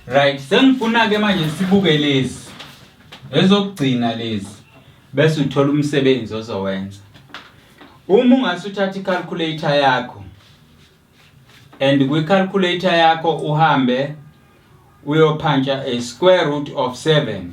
Right, sengifuna ke manje sibuke lezi. Ezokugcina lezi. Bese uthola umsebenzi ozowenza. Uma ungase uthathe i-calculator yakho and kwi-calculator yakho uhambe uyophantsha a square root of 7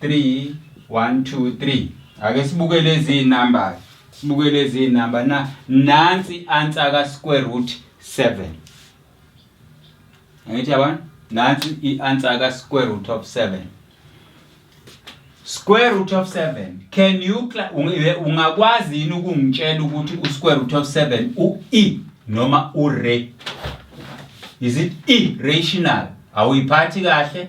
3 1 2 3 ake sibuke lezi number sibuke lezi number na nansi answer ka square root 7 angithi yabona nansi i answer ka square root of 7 square root of 7 can you ungakwazi yini ukungitshela ukuthi u square root of 7 u e noma u re is it e rational awuyiphathi kahle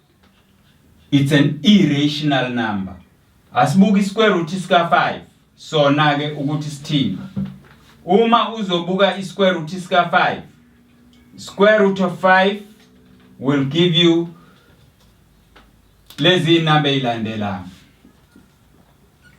it's an irrational number asibuke isquare root sika 5 sona ke ukuthi sithini uma uzobuka isquare root sika 5 square root of 5 will give you lezi number ilandelayo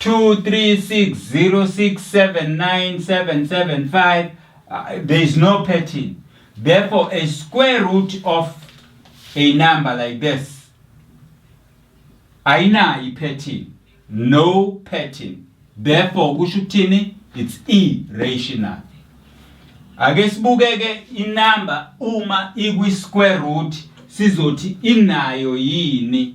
236067977 uh, there is no pattern therefore a square root of a number like this ayinayo ipattern no pattern therefore kusho ukuthini it's irrational ake sibukeke inamba uma ikwi square root sizothi inayo yini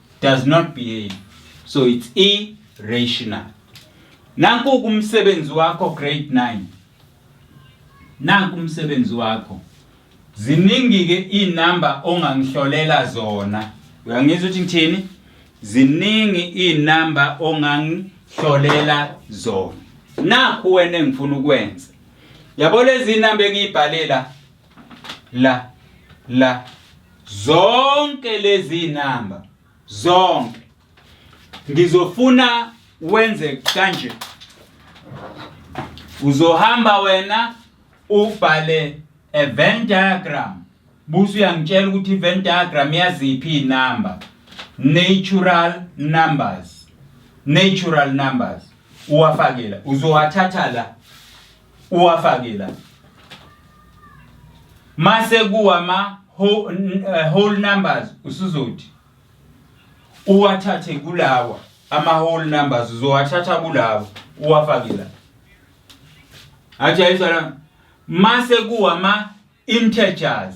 does not behave so it's irrational nanku kumsebenzi wakho grade 9 nanku umsebenzi wakho ziningi ke inamba ongangihlolela zona uyangizwa ukuthi ngithini ziningi inamba ongangihlolela zona nakhu wena engifuna ukwenza yabo lezi inamba engiyibhalela la la zonke lezi namba zonke ngizofuna wenze kanje uzohamba wena ubhale a Venn diagram busu uyangitshela ukuthi Venn diagram yaziphi inamba natural numbers natural numbers uwafakela uzowathatha la uwafake la mase kuwama eh, whole numbers usuzothi uwathathe kulawa ama whole numbers uzowathatha kulawa uwafake la ajayiswa la mase kuwama integers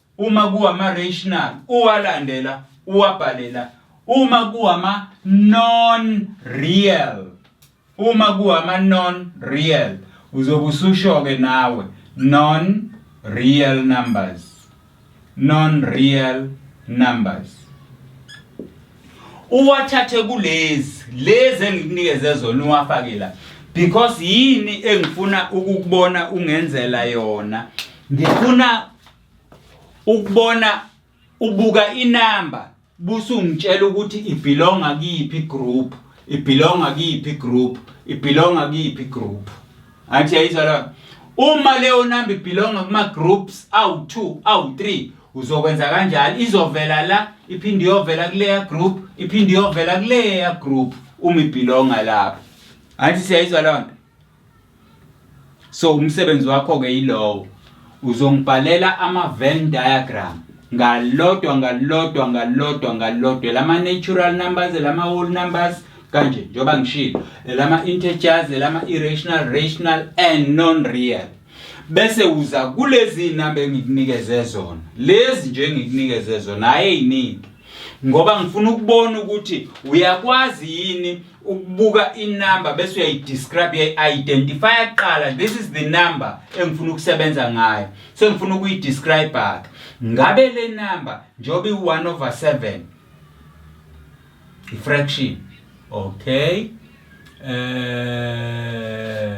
uma kuwama rational uwalandela uwabhalela uma kuwama non real uma kuwama non real uzobe ususho ke nawe non real numbers non real numbers uwathathe kulezi lezi engikunikeze zona uwafake la because yini engifuna ukukubona ungenzela yona ngifuna ukubona ubuka inamba busungitshela ukuthi ibelonga kuyiphi group ibelonga kuyiphi group ibelonga kuyiphi group Athi yayizwa lona. Uma leyo number ibelonga kuma groups awu2 awu3 uzokwenza kanjalo izovela la iphinde iyovela kuleya group iphinde iyovela kuleya group uma ibelonga lapho. Athi siyayizwa lona. So umsebenzi wakho ke yilowo. Uzongibhalela ama-Venn diagram ngalodwa ngalodwa ngalodwa ngalodwa lama-natural numbers lama-whole numbers kanje njengoba ngishilo lama-integers lama-irrational rational and non-real bese uza kulezi namba engikunikeze zona lezi nje engikunikeze zona hhayi ey'ningi ngoba ngifuna ukubona ukuthi uyakwazi yini ukubuka inumber bese uyayidescribe uyayi-identifya kuqala this is the number engifuna ukusebenza ngayo sengifuna ukuyidescribe-ke ngabe le number njengoba i-one over seven i-fraction okay um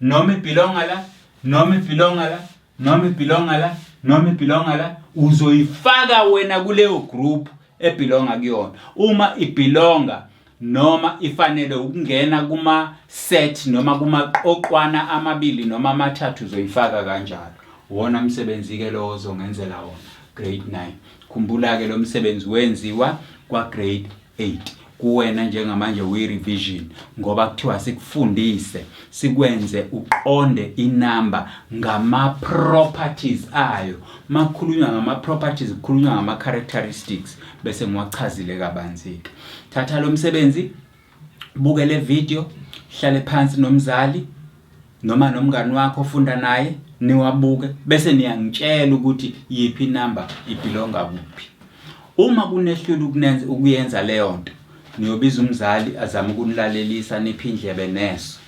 noma ibhilonga la noma ibhilonga la noma ibhilonga la noma ibhilonga la uzoyifaka wena kuleyo group ebhilonga kuyona uma ibhilonga noma ifanele ukungena kuma set noma kumaqoqwana amabili noma amathathu uzoyifaka kanjalo wona msebenzi ke lowo ozongenzela wona grade 9 khumbula ke lo msebenzi wenziwa kwa grade 8 kuwena njengamanje uyi revision ngoba kuthiwa sikufundise sikwenze uqonde inamba ngama properties ayo makukhulunywa ngama properties kukhulunywa ngama characteristics bese ngiwachazile kabanzike thatha lo msebenzi buke le video hlale phansi nomzali noma nomngani wakho ofunda naye niwabuke bese niyangitshela ukuthi yiphi inamba ibhilonga kuphi uma kunehlula ukunenza ukuyenza leyo nto niyobiza umzali azama ukunilalelisa niphi indlebe neso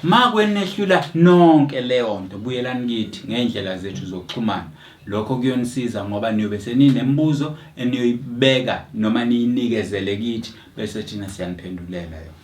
ma kwenehlula nonke leyo nto buyelani kithi ngey'ndlela zethu zokuxhumana lokho kuyonisiza ngoba niyobe seninembuzo eniyoyibeka noma niyinikezele kithi bese thina siyaniphendulela yona